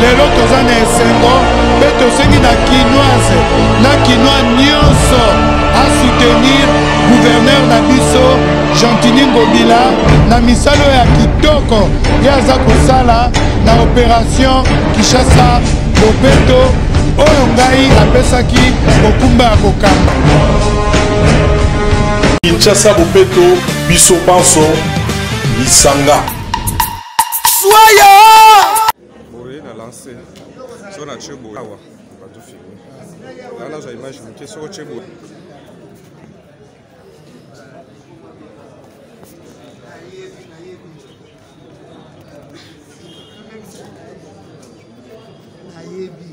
lelo toza na esengo mpe tosengi na kinoise na kinois nyonso asoutenir guverner na biso gentini ngobila na misala oyo ya kitoko ye aza kosala na operation kinshasa bopeto oyo ngai apesaki mokumba ya kokamba kinshasa bopeto biso banso lisanga soya boye na lance so na tie boye awa bato filme aa nazwa image moke soko tie boye nayebi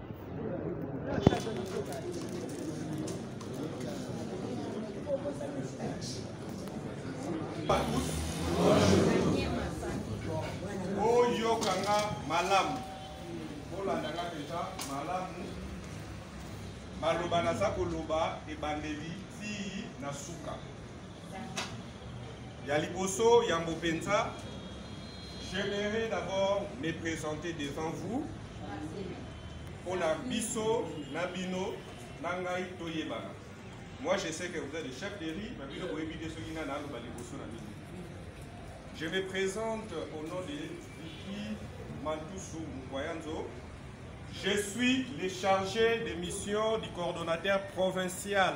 oyokanga malamu olandaka deja malamu maloba naza koloba ebandeli tii na suka Ya liboso yambo penza, j'aimerais d'abord me présenter devant vous pour la biso na bino na ngai toyebana. Moi je sais que vous êtes des chefs de riz, mais bino boyebi te soki nani aloba liboso na bino. Je me présente au nom de Vicky Mantusu Mukwayanzo. Je suis le chargé de mission du coordonnateur provincial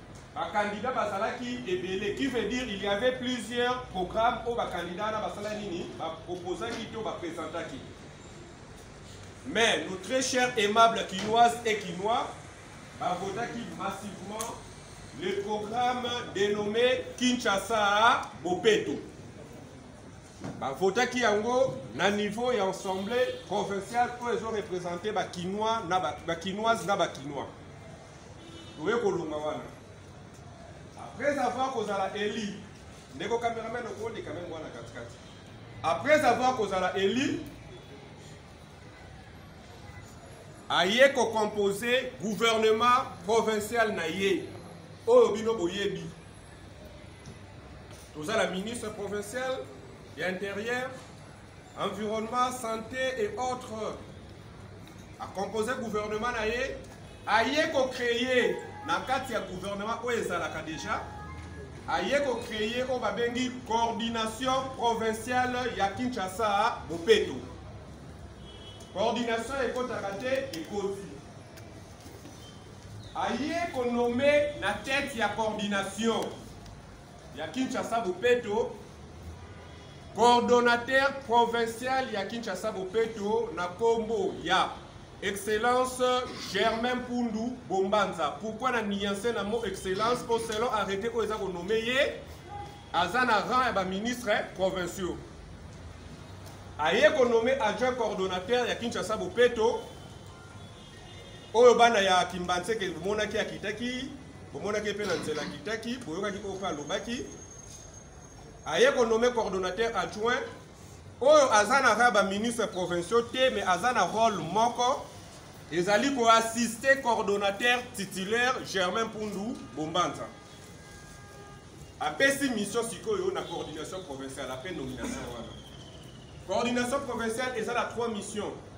bakandida bazalaki ebele qui veut dire il y avait plusieurs programmes oyo bakandida wana basala nini baproposaki to bapresentaki mais nos très chers aimables kinoises et kinois bavotaki massivement le programme dénommé kinshasa bopeto bavotaki yango na niveau ya assemblée provinciale oyo ezorepresente bakinois na bakinoise na bakinois oye kolonga wana après avoir kozala eli ndeko cameraman okoleka meme wana katikati après avoir kozala eli aye kocompose gouvernement provincial na ye oyo bino boyebi toza la ministre provincial ya intérieur environnement santé et autres akompose gouvernement na ye aye kocreye na kati ya gouvernement oyo ezalaka déjà aye kocreye oyo babengi coordination provinciale ya kinshasa bopeto coordination ekotaka te ekoti aye konome na tete ya coordination ya Kinshasa Bopeto coordonnateur provincial ya Kinshasa Bopeto na kombo ya Excellence Germain Pundu Bombanza. Pourquoi na nuance na mot excellence au selon arrêté oyo eza ko nommer ye aza na rang ya ba ministres provinciaux. Aye ko nommer adjoint coordonnateur ya Kinshasa Bopeto oyo bana ya kimbanseke bomonaki akitaki bomonaki mpe na nzela akitaki boyokaki oyo mpe alobaki aye konome coordonnateur adjoint oyo aza na kaka baministre provinciaux te mais aza na rôle moko ezali koassiste coordonnateur titulaire germain mpundu bombanza apesi mission sikoyo na coordination provinciale ape nomination wana coordination provinciale eza na trois missions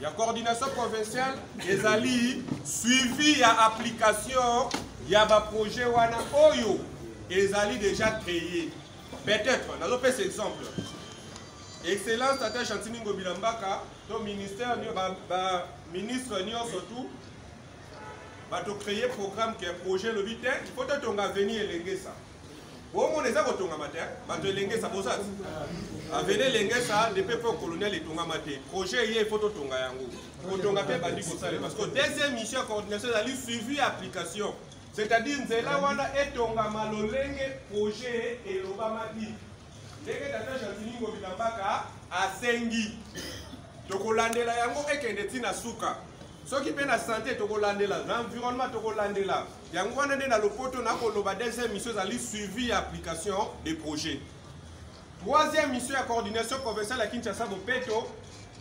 ya coordination provinciale ezali suivi ya application ya baprojet wana oyo ezali déjà créé peut-être nazopesa exemple excellence tata gentini ngobila mbaka to ministère baministre nyonso tout bato créé programme ke projet elobi te il faut totonga avenir elengesa bomona eza kotongama te bato elengesa boza avene elengesa depuis po colonial etongama te projet eye fo totonga yango kotonga mpe ebandi kosale parce que deuxième mission ya coordination ezali suivi ya application c'est-à-dire nzela wana etongama lolenge projet elobamaki ndenge tata jantiningo bilambaka asengi tokolandela yango ekende ntina suka soki mpe na sante tokolandela na environnement tokolandela yango wana nde na lopoto nakoloba deuxième mission ezali suivi ya application des projets troisième mission ya coordination provinciale ya kinshasa bopeto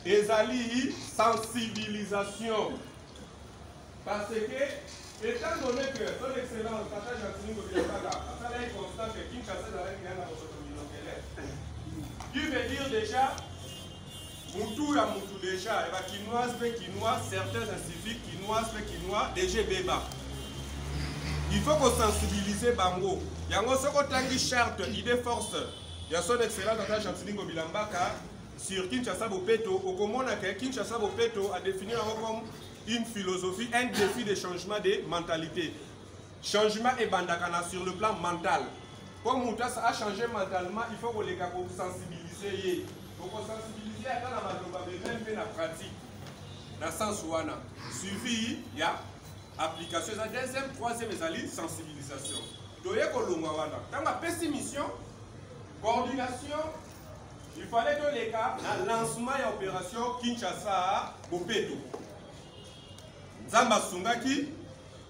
ezali sensibilisation parce que étant donné que son excellence tata gentini kobiakaka asalaki constat que kinshasa ezalaki ya na bosoto milokele qui veut dire déjà mutu ya mutu deja ya bakinoise mpe kinois certains inciviques kinoise mpe kinois deja ebeba il faut kosensibilize bango yango soki otangi charte idée force ya son excellence ata chantilingo bilambaka sur kinshasa bopeto okomona ke kinshasa bopeto adefinir yango comme une philosophie un défi de changement de mentalité Changement ebandaka na sur le plan mental. Comme mutu a changer mentalement, il faut koleka ko sensibiliser ye. Ko sensibiliser ata na maloba mais même pe na pratique. Na sens wana suivi ya application eza deuxième, troisième ezali sensibilisation. Toye kolongwa wana. Tango apesi mission coordination il fallait toleka na lancement ya opération kinshasa bopeto nzambe asungaki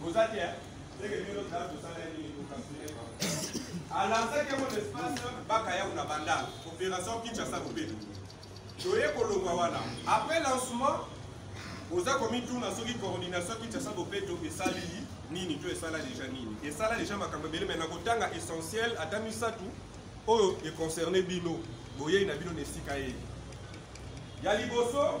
Boza te ndenge bino tala tosala ye nini kokasire alansaki yango na espace baka yango na banda opération kinshasa lobela toye kolongwa wana après lancement oza komituna soki coordination kinshasa bopeto esali nini to esala deja nini esala deja makambo ebele mai nakotanga essentiel ata misato oyo econcerne bino boyei na bino na esika ye ya liboso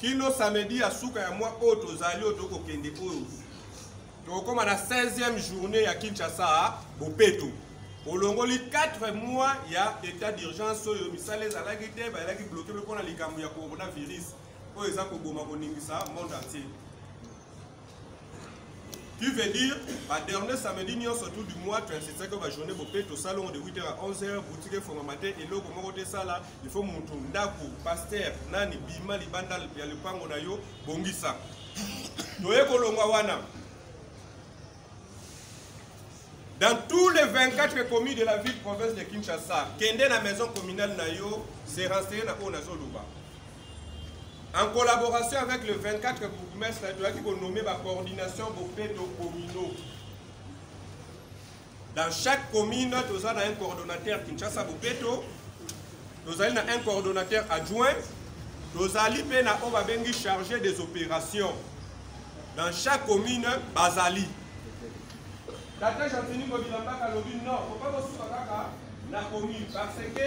kino samedi ya suka ya mwa oyo tozali oyo tokokende oyo tokokoma na 16e journée ya kinshasa bopeto olongoli 4 mois ya état d'urgence oyo misala ezalaki te bayelaki bloke mpe mpo na likambo ya coronavirus oyo eza koboma koningisa monde entier Tu veux dire, ba dernier samedi nyonso tout du mois, tu insistais que ba journée bope to salon de 8h à 11h, boutique fo matin et loko moko te sala, il faut mutu ndaku, pasteur, nani bima libanda ya lupango na yo bongisa. Toye kolongwa wana. Dans tous les 24 communes de la ville province de Kinshasa, kende na maison communale na yo, se renseigner na oyo nazoluba. En collaboration avec le 24 bourgmestre, toyaki konomme ba coordination bopeto communaux. Dans chaque commune, toza na un coordonnateur Kinshasa bopeto, tozali na un coordonnateur adjoint, tozali mpe na oyo babengi chargé des opérations. Dans chaque commune, bazali. Tata Gentini Kobilambaka alobi non, faut pas kosuka kaka na commune parce que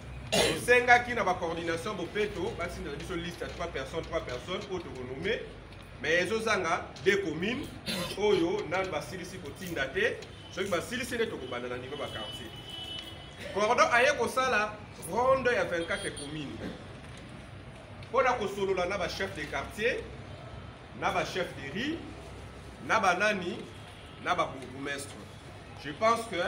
tosengaki na bacoordination bopeto batinda na biso liste ya 3 personnes 3 personnes oyo tokonome mais ezozanga de commune oyo nanu basilisi kotinda te soki basilisi nde tokobanda na niveau baquartier cordon aye kosala ronde ya 24 commune mpo na kosolola na bachef de quartier na ba chef de riz na ba nani na ba bourgmestre je pense que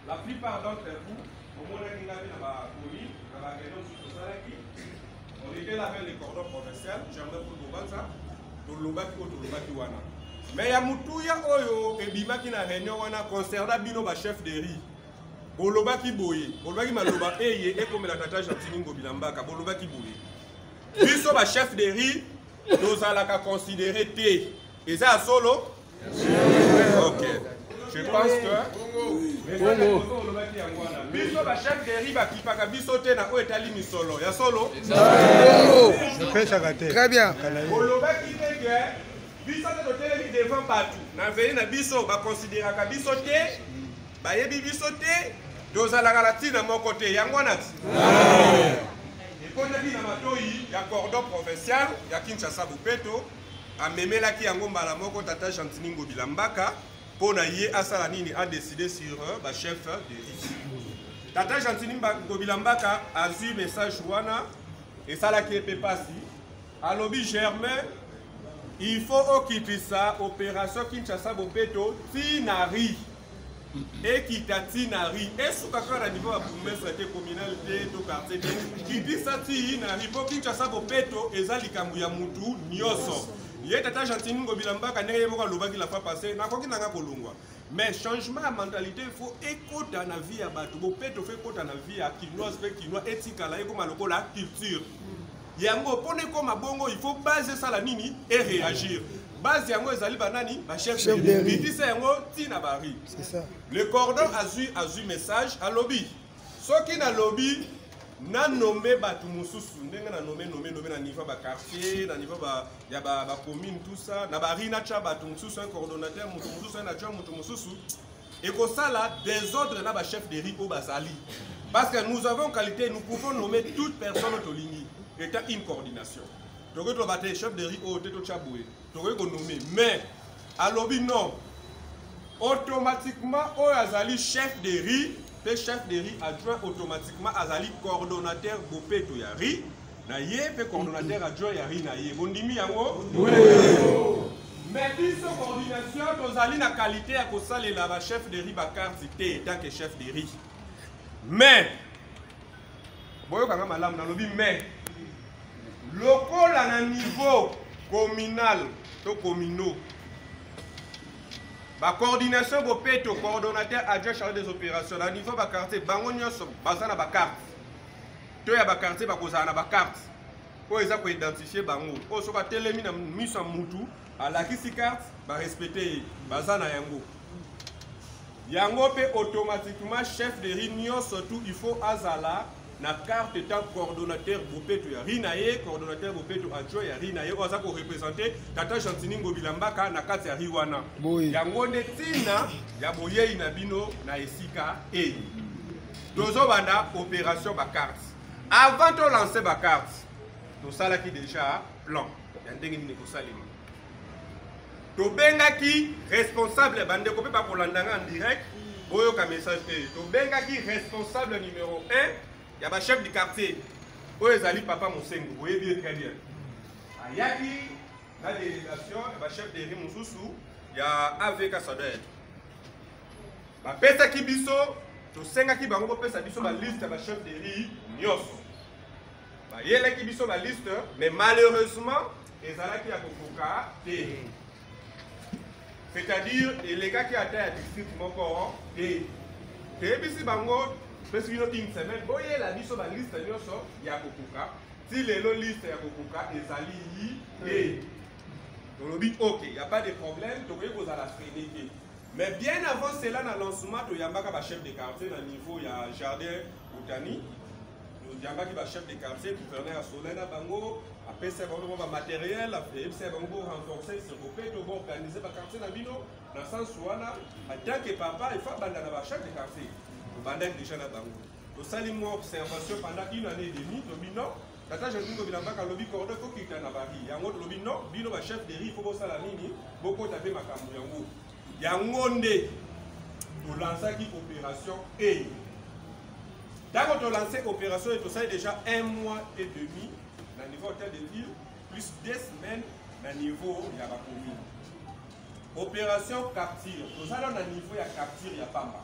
la plupart d'entre vous omonaki ngai na bakomi na bareunion mosusu tosalaki on était là vers le cordon provincial germain pour bobanza tolobaki oyo tolobaki wana me ya motuya oyo ebimaki na réunion wana concerna bino ba chef de riz bolobaki boye bolobaki maloba eye ekomela tata gentini ngobi na mbaka bolobaki boye biso ba chef de riz tozalaka considere te eza ya solo ok je pense que olobaki yango wana biso bachef deri bakipaka biso te na oyo etali misolo ya solo très bien olobaki te ke biso te totelemi devant bato na veye na biso bakonsideraka biso te bayebi biso te tozalaka na ntina moko te yango wana ti ekotaki na matoi ya cordon provincial ya kinshasa bopeto amemelaki yango mbala moko tata gentini ngobila mbaka mpo na ye asala nini adeside sur euh, bachef de liste tata gentini ngobila mbaka azwi message wana esalaki ye mpe mpasi alobi germain il faut okitisa opération kinshasa bopeto ti na rie ekita ti na ri esuka kaka na niveau ya bourgmestre te communal te to quartier te kitisa ti na ri mpo kinshasa bopeto eza likambo ya mutu nyonso ye tata gentini ngobila mbaka ndenge ye moko alobaki la fois passé nakoki nanga kolongwa mais changement ya mentalité faut ekota na vie ya bato bopeto fo ekota na vie ya kinoise mpe kinois etikala ekoma lokola culture yango mpona ekoma bongo il faut base esala nini e réagir base yango ezali banani bachef bitisa yango ti na bari le cordon azwi azwi message alobi soki nalobi nanome bato mosusu ndenge nanome nome nome na niveau ya baquartier na niveau ya bacommune tout ça na bari natya bato mosusu un coordonnateur moto mosusu un adjoint moto mosusu ekosala desordre na ba chef de riz oyo bazali parce que nous avons qualité nous pouvons nommer toute personne tolingi étant une coordination tokoki toloba te chef de riz oyo te totya boye tokoki konome mais alobi non automatiquement oyo azali chef de riz mpe chef de riz adjoint automatiquement azali coordonnateur bopeto ya riz na ye mpe coordonnateur adjoint ya ri na ye bondimi yango mais biso coordination tozali na qualité ya kosalela ba chef de ri bakarti te etant que chef de ri mais boyokanga malamu nalobi mais lokola na niveau communal to communaux bacoordination bopeto coordonnateur adjoint charge des opérations na niveau baquartier bango nyonso baza na bacarte to ya bakartier bakozala na bakarte oyo eza koidentifie bango oyo soki atelemi na miso ya mutu alakisi karte barespecte ye baza na yango yango mpe automatiquement chef de ri nyonso tu il faut azala na carte etant coordonnateur bopeto ya ri na ye coordonnateur bopeto adjoint ya ri na ye oyo aza korepresente tata gentini ngobila mbaka na kati ya ri wana yango nde ntina ya boyei na bino na esika eye tozo banda opération ba cartes avant to lancer ba cartes tosalaki déjà plan ya ndenge nini kosalema tobengaki responsable bandeko mpe bakolanda nga en direct boyoka message te tobengaki responsable numéro 1 ya bachef du quartier oyo ezali papa mosengo boyebi ye très bien ayaki na délégation ya bachef de ri mosusu ya avk sadek bapesaki biso tosengaki bango bopesa biso baliste ya bachef de rue nyonso bayelaki biso baliste mais malheureusement ezalaki ya kokoka te c'est-à-dire elekaki ata ya district moko te toyebisi bango pesi bino une semaine boyela biso baliste nyonso ya kokoka ti lelo liste ya kokoka ezali te tolobi ok ya pas de problème tokoki kozala freine te mais bien avant cela na lancement toyambaka bachef de quartier na niveau ya jardin botani toyambaki bachef de quartier gouverneur ya soleil na bango apesa bango mwa bamateriel ayebisa ya bango borenforce seko mpe to boorganize baquartier na bino na sens wana atanke papa efa banda na bachef de quartier tobandaki déjà na bango tosali mwa observation pendant une année et demi tobi non tata joseph ngobi na mpaka alobi cordo ekokita na bari yango tolobi no bino bachef de ri fo bosala nini bokota mpe makambo yango yango nde tolansaki opération e ntango tolanse opération e tosali déjà un mois et demi na niveau hotel de ville plus deux semaines na niveau ya bacommune opération capture tozala na niveau ya capture ya pamba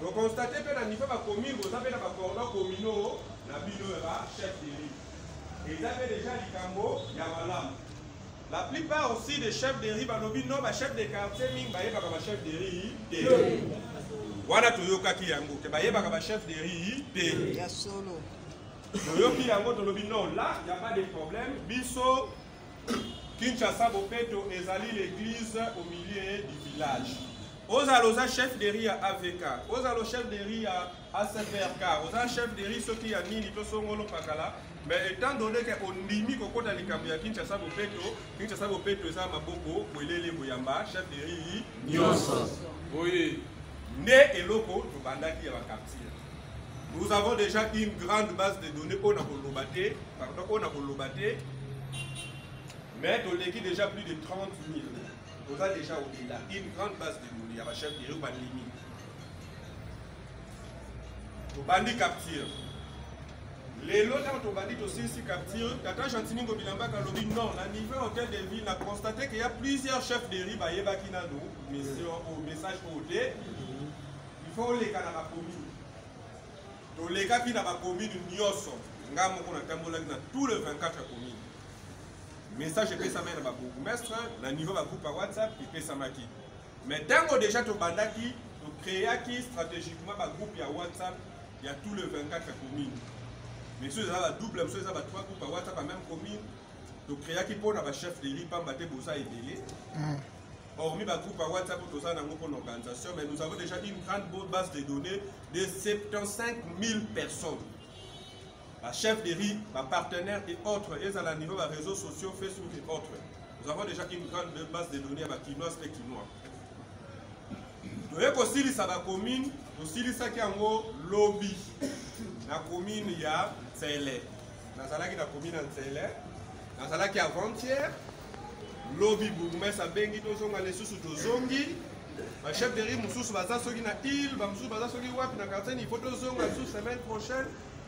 Bokonstate mpe na nivo bakomi boza mpe na bacordon komino na bino ya bachef de rive eza mpe deja likambo ya malamu la plupart aussi des chefs de rive balobi no bachef de quartier mingi bayebaka bachef de rive te wana toyokaki yango te bayebaka bachef de rive te toyoki yango tolobi no la ya pas de problème biso Kinshasa Bopeto ezali l'église au milieu du village. ozala oza chef de riz ya avk ozala chef de riz ya acvrk oza chef de riz soki ya nini to songolo pakala mais étant donné ke ondimi kokota likambo ya kinshasa bopeto kinshasa bopeto eza maboko bwelele boyamba chef de riz nyonso oye nde eloko tobandaki ya bakartier Nous avons déjà une grande base de données oyo nakoloba te pardon oyo nakoloba te mais toleki déjà plus de 30 000 toza déjà au-delà une grande base de données ya bachef de bandimi tobandi capture lelo ntango tobandi tosilisi capture tata gentiningo bilambaka alobi non na niveau hotel de ville na constate ke ya plusieurs chefs de riz bayebaki nano mission oyo message oyo te Il faut oleka na ba commune. Tolekaki na ba commune nyoso. Nga moko na tambolaki na tous les 24 communes. Message epesamaki na ba bourgmestre na niveau ba groupe ya WhatsApp epesamaki. Mais tango déjà tobandaki to créaki stratégiquement ba groupe ya WhatsApp ya tous les 24 communes. Mais ceux eza ba double, ceux eza ba trois groupes ya WhatsApp ya même commune. tokreaki mpo na bachef de lieu mpamba te boza ebele Hormis ba groupe à WhatsApp où toza nango pour l'organisation, mais nous avons déjà une grande bonne base de données de 75 000 personnes. Ba chef de riz, ba partenaires et autres, et à la niveau ba réseaux sociaux, Facebook et autres. Nous avons déjà une grande base de données à ba kinoises et kinois. toye kosilisa bakomine tosilisaki yango lobi na komine ya nsele nazalaki na komine ya nsele nazalaki avantiere lobi bourgmestre abengi tozonga lisusu tozongi bachef de ri mosusu baza soki na ile bamosusu baza soki wapi na quartier nifo tozonga lisusu semaine prochaine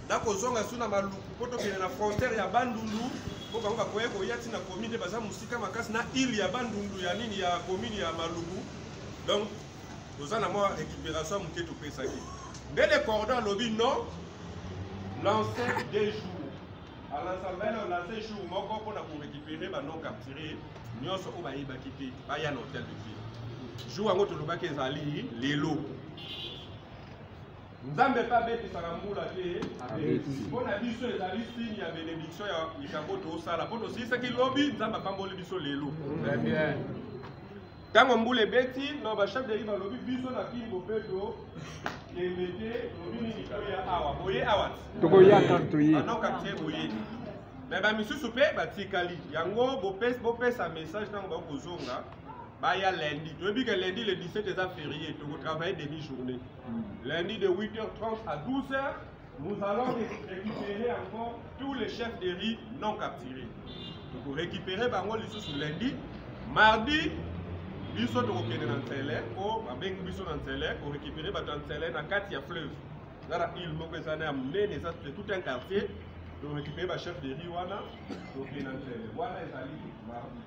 nakozonga lisusu na maluku mpo tokende na frontière ya bandundu mpo bango bakoya koya ntina commune nde baza mosika makasi na ile ya bandundu ya nini ya commune ya maluku donc toza na mwa récupération moke topesaki nde le cordon alobi non lancé deux jours Anasambela na se jour moko mpo na korekipere banon capture nyonso oyo bayebaki te baya na hotel de ville jour yango tolobaki ezali lelo nzambe mpe abetisaka mbula te mpo na biso ezali signe ya benediction ya likambo tosala mpo tosilisaki lobi nzambe apamboli biso lelo ntango mbula ebeti no bachef de rive alobi biso na kini bopeto kende te lobi nini toya awa boye awa tokoya kaka toye anoka te boye me bamisusu mpe batikali yango bopesa message ntango bakozonga baya lundi toyebi ke lundi le 17 eza ferie tokotravaille demi journée hmm. lundi de 8h30 à 12h Nous allons récupérer encore tous les chefs de riz non capturés. Toko récupérer bango lisusu lundi, mardi biso tokokende na nsele mpo babengi biso na nsele korécupere bato ya nsele na kati ya fleuve eza na ile moko eza na ya monene eza tout un quartier torécupere bachef de riz wana tokende na nsele wana ezali mardi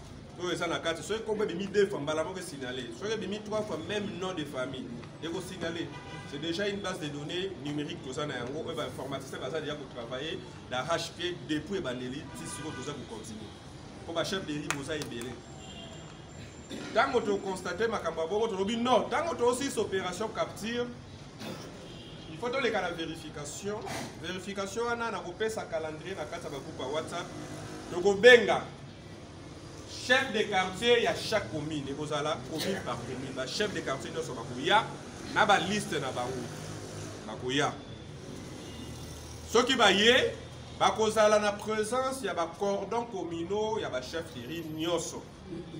oyo eza na kati soki kombo ebimi deux fois mbala moko esignale soki ebimi trois fois même nom de famille ekosignale c'est déjà une base de données numérique toza na yango oyo bainformaticien baza deja kotravaille na hp depuis ebandeli ti sikoyo toza kocontinue mpo bachef de rive boza ebele ntango tokonstate makambo ya bongo tolobi non ntango toosis opération capture il faut toleka na vérification vérification wana nakopesa calendrier na kati ya bagroupe ya whatsapp tokobenga chef de quartier ya chaque commune ekozala commune par commune ba chef de quartier nyonso bakoya na baliste na bango bakoya soki baye bakozala na présence ya bacordon communaux ya bachefferie nyonso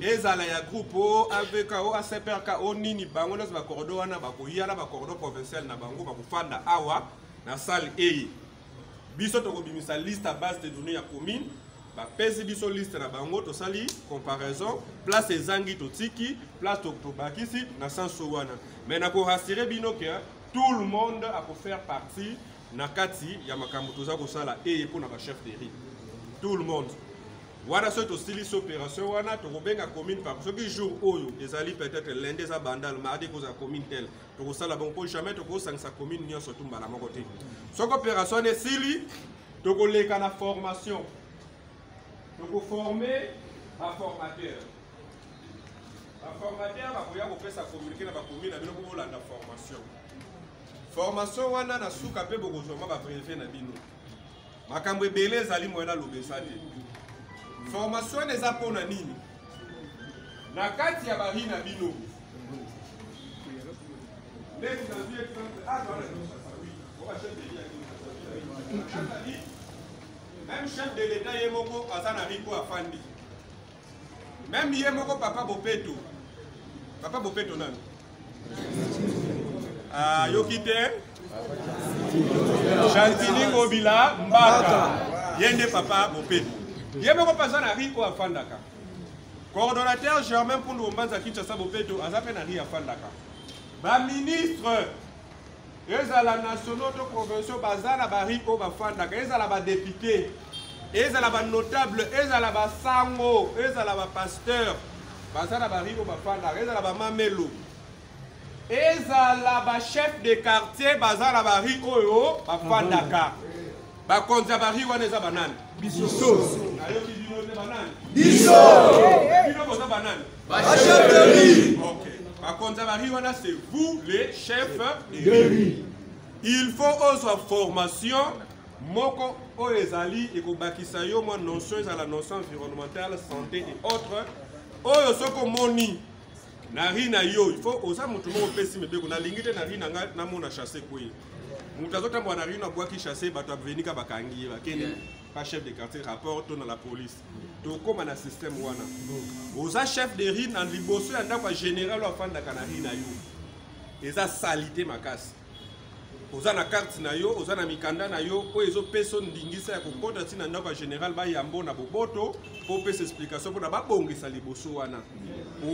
ezala ya groupe o avk o acprk o nini bango nyonso bacordon wana bakoya na bacordon provincial na bango bakofanda awa na salle eye biso tokobimisa liste ya base de données ya commune bapesi biso liste na bango tosali comparaison place ezangi totiki place tobakisi na senso wana mais nakorassire bino ke tout le monde akofaire partie na kati ya makambo toza kosala eye mpo na bachef de ri tout le monde wana soki tosilisi opération wana tokobenga commune par soki jour oyo ezali peut-être lende eza bandal mardi ekozala commune tele tokosala bongo mpo jamais tokosangisa commune nyonso tu mbala moko te soki opération wana esili tokoleka na formation tokoforme baformateur baformateur bakoya kopesa communiqué na bakomi na bino mpo bolanda formation formation wana na suka mpe bokozwa mwa babreve na bino makambo ebele ezali moye nalobesa te formation wana eza mpo na nini na kati ya bari na bino ndeti nazwi exemple aza na kinshasa wi oba chef de ya kinshasa azali meme chef de l'etat ye moko aza na riko afandi Meme ye moko papa Bopeto. Papa Bopeto nani? Ah, yoki te? Gentini Ngobila Mbaka. Ye nde papa Bopeto. Ye moko paza na Rico afandaka. Coordonnateur Germain Pundu Ombanza Kinshasa Bopeto aza pe na Ria afandaka. Ba ministre ezala nationaux to provinciaux baza na bari oyo bafandaka ezala badepute ezala banotable ezala basango ezala bapasteur baza na bari oyo bafandaka ezala bamamelo ezala bachef de quartier baza na bari oyo bafandaka bakonzi ya bari wana eza banani biso nayoki bino nde banani biso bino boza banani Ba chefs de riz. Ok. Ba konza ba riz wana c'est vous les chefs de riz. Il faut ozwa formation moko oyo ezali ekobakisa yo mwa notion ezala notion environnementale santé et autres oyo soki omoni na ri na yo il faut oza moto moko opesi mibeko nalingi te na ri na ngai namona chasse kweye moto azotambola na ri na bwaki chasse bato avenika bakangi ye bakende pa chef de quartier rapport to na la police tokóma na système wana oza chef de rue na liboso ya ndako ya général oyo afandaka na rue na yo eza salite makasi oza na karte na yo oza na mikanda na yo oyo ezopesa ndingisa ya kokota ntina ndako ya général bayambo na boboto mpo opesa explication mpona babongisa liboso wana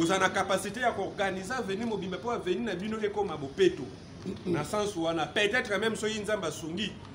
oza na kapasité ya koorganize aveni mobimba mpo aveni na bino ekoma bopeto na sense wana peut-être même soki nzambe asungi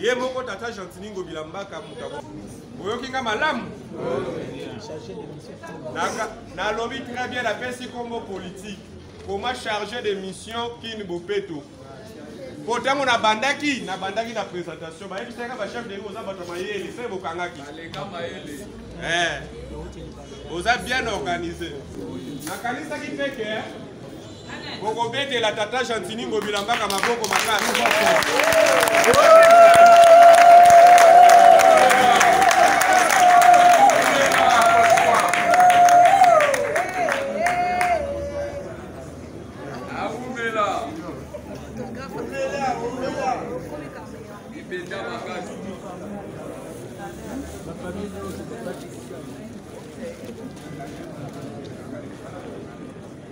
ye moko tata gentini ngobila mbaka moto oyoki nga malamu nalobi très bien napesi nkombo politique koma chargé de mission kin bopeto mpo ntango nabandaki nabandaki na présentation bayebisaka bachef de oza bato ya mayele mpe bokangaki eh, oza bien organisé nakanisaki mpe ke bokobetela tata gentini ngobila mbaka maboko makasi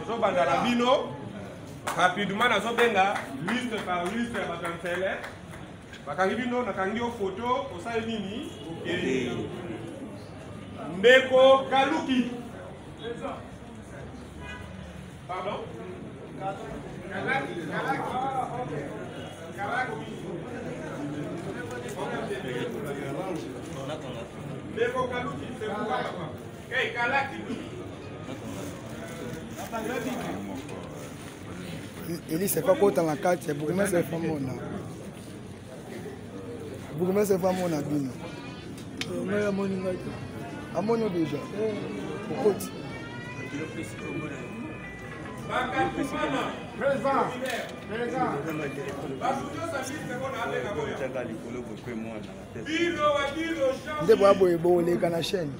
tozobanda na bino rapidement nazobenga liste par liste ya bato ya nsele bakangi bino nakangi yo foto osali nini okende ndeko kaluki pardon kalaki kalaki kalaki ndeko kaluki sebuka papa elise efa kota na kati ya bourgmestre efa mona bourgmestre efa mona bino ngai amoni ngai te amoni deja okoti nde boya boye boleka na chaîne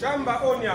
Shamba Onya.